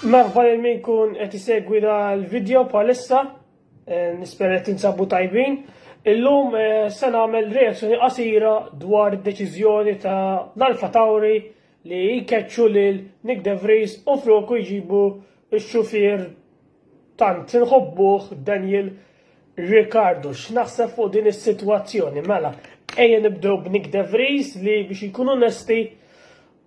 Merħba lil min kun qed isegwi dal-video bħalissa, eh, nispera qed tinsabu tajbin. Illum eh, se nagħmel reazzjoni qasira dwar id-deċiżjoni ta' l-Alfa Tauri li jkeċċu lil Nick De Vries u floku jġibu x-xufier tant inħobbuh Daniel Ricardo, x'naħseb fuq din is-sitwazzjoni? Mela, ejja nibdew b'Nick De Vries li biex ikun onesti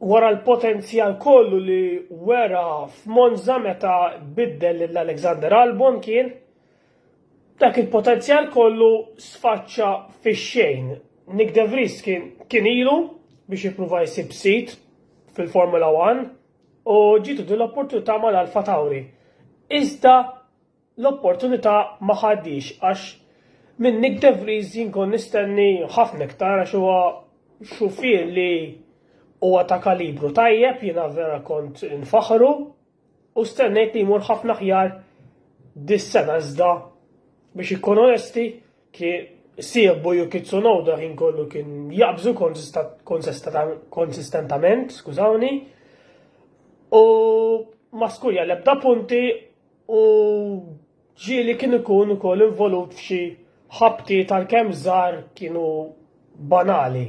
wara l-potenzjal kollu li wera f'Monza meta biddel lil Alexander Albon kien dak il-potenzjal kollu sfaċċa fix-xejn. Nick De Vries kien kien ilu biex jippruva jsib sit fil-Formula 1 u ġitu din l-opportunità mal-Alfa Tauri. Iżda L-opportunità ma ħadhiex għax minn Nyck de Vries jien kont nistenni ħafna iktar għax huwa xufier li huwa ta' kalibru tajjeb, jiena vera kont infaħħru u stennejt li jmur ħafna aħjar dis-sena iżda biex inkun onesti kien siebu Yuki Tsunoda ħin kollu kien jaqbżu konsistentament, skużawni, u ma skurja l-ebda punti u ġieli kien ikun ukoll involut f'xi ħabti tal-kemm żgħar kienu banali.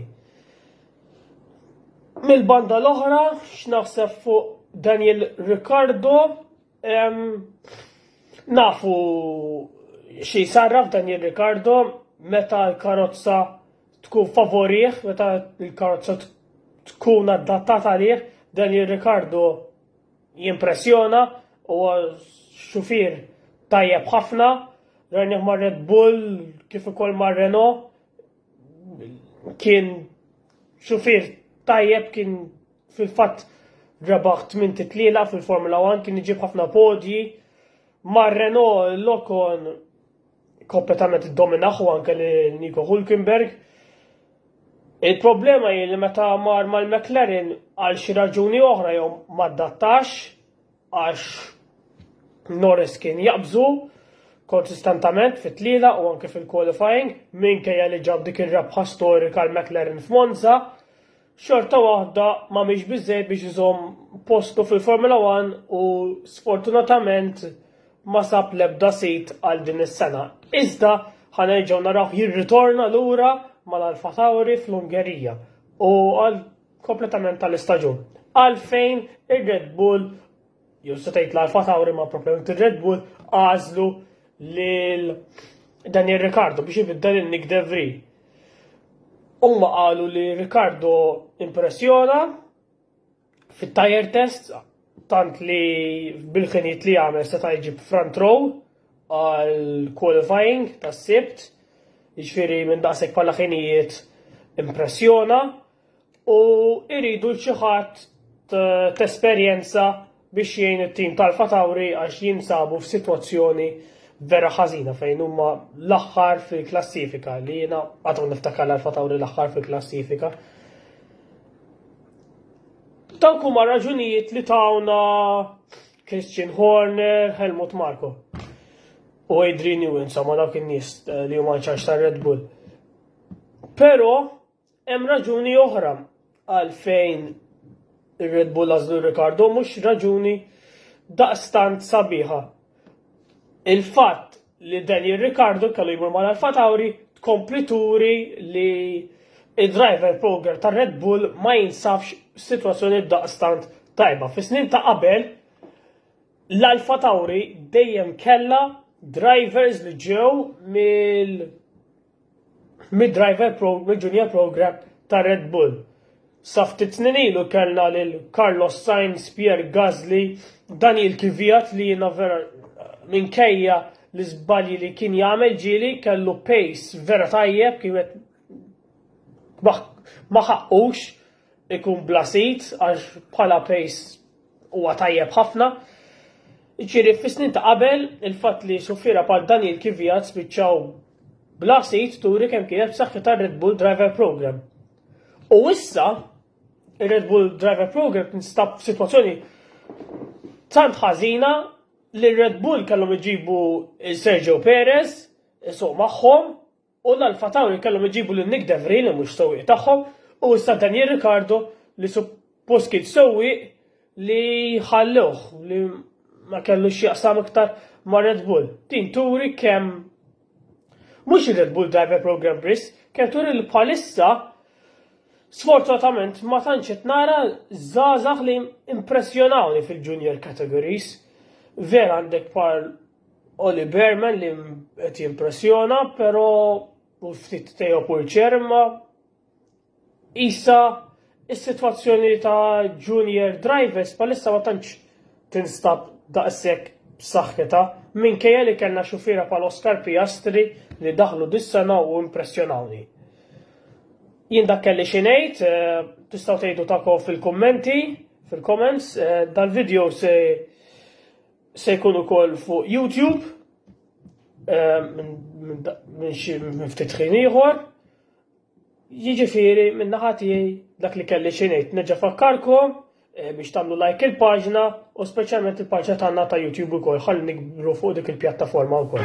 Mill-banda l-oħra, x'naħseb fuq Daniel Riccardo, nafu xi sarraf Daniel Riccardo meta l-karozza tkun favorih, meta l-karozza tkun adattata għalih, Daniel Riccardo Jimpressjona u xufier tajjeb ħafna, rajnih ma' Red Bull kif ukoll ma' Renault kien xufier tajjeb kien fil-fatt rebaħ tmien titlila fil-Formula 1 kien iġib ħafna podji. Mar Renault l-Okon kompletament iddominaħ u anke li Nico Hulkenberg. Il-problema hi li meta mar mal-McLaren għal xi raġuni oħra jew ma adattax għax Norris kien jaqbżu konsistentament fit-tliela u anke fil-qualifying minkejja li ġab dik ir-rebħa storika l-McLaren f'Monza xorta waħda ma mhix biżżejjed biex iżomm postu fil-Formula One u sfortunatament ma sab l-ebda sit għal din is-sena. Iżda ħanerġgħu narawh jirritorna lura mal-Alfa Tauri fl-Ungerija u għal kompletament tal-istaġun. Għalfejn ir-Red Bull jew se tgħid l-Alfa Tauri ma propjament ir-Red Bull għażlu lil Daniel Ricardo biex ibiddel il-Nick De Vries. Huma qalu li Ricardo impressjona fit-tire test tant li bil-ħinijiet li għamel se jġib front row għal qualifying tas-sibt, jiġifieri minn daqshekk bħala ħinijiet impressjona u iridu l xi ħadd t'esperjenza biex jgħin it-tim tal-Alfa Tauri għax jinsabu f'sitwazzjoni vera ħażina fejn huma l-aħħar fil-klassifika li jiena għadhom niftakar l-Alfa Tauri l-aħħar fil-klassifika. Dawk huma raġunijiet li tawna Christian Horner, Helmut Marko u Adrian Newens, ma dawk in-nies eh, li huma ċarx ta' Red Bull. Però Hemm raġuni oħra għalfejn ir-Red Bull għażlu Ricardo mhux raġuni daqstant sabiħa. Il-fatt li Daniel Ricardo kellu jmur mal Alfa Tauri tkompli turi li id-driver program ta' Red Bull ma jinsafx situazzjoni daqstant tajba. Fi snin ta' qabel, l-Alfa Tauri dejjem kella drivers li ġew mill mid-driver pro, mid-junior program ta' Red Bull. Sa ftit snin ilu kellna lil Carlos Sainz, Pierre Gasly, Daniel Kvyat li jiena vera minkejja l-iżbalji li kien jagħmel ġieli kellu pace vera tajjeb kien ma ħaqqux ikun bla sid għax bħala pace huwa tajjeb ħafna. Ġifieri fis-snin ta' qabel il-fatt li suffiera bħal Daniel Kvyat spiċċaw bla sid turi kemm kienet b'saħħitha Red Bull Driver Program. U issa ir-Red Bull Driver Program tinstab f'sitwazzjoni tant ħażina li Red Bull kellhom iġibu Sergio Perez, so magħhom, U l-Alpha Tauri kellhom iġibu lil Nyck de Vries li mhux sewwieq tagħhom u issa Daniel Ricciardo li suppost kien sewwieq li ħallewh li ma kellu x'jaqsam iktar ma' Red Bull. Din turi kemm mhux ir-Red Bull Driver Pro Grand Prix, kemm turi li bħalissa Sfortunatament ma tantx qed nara żgħażagħ li impressjonawni fil-junior categories. Vera għandek par Oli Berman li qed jimpressjona, però u ftit Teo Pulċerma isa is-sitwazzjoni ta' junior drivers palissa ma tantx tinstab daqshekk b'saħħitha minkejja li kellna xufiera pal Oscar Piastri li daħlu dis-sena u impressjonawni. Jien dak kelli xi ngħid, eh, tistgħu tgħidu takom fil-kummenti, fil-comments, eh, dal-video se Se jkun ukoll fuq YouTube minn xi ftit ħin ieħor. Jiġifieri minn naħa tiegħi dak li kelli xi ngħid nerġa' fakkarkom Eh, biex tagħmlu like il-paġna u speċjalment il-paġna tagħna ta' YouTube ukoll ħalli nikbru fuq dik il-pjattaforma wkoll.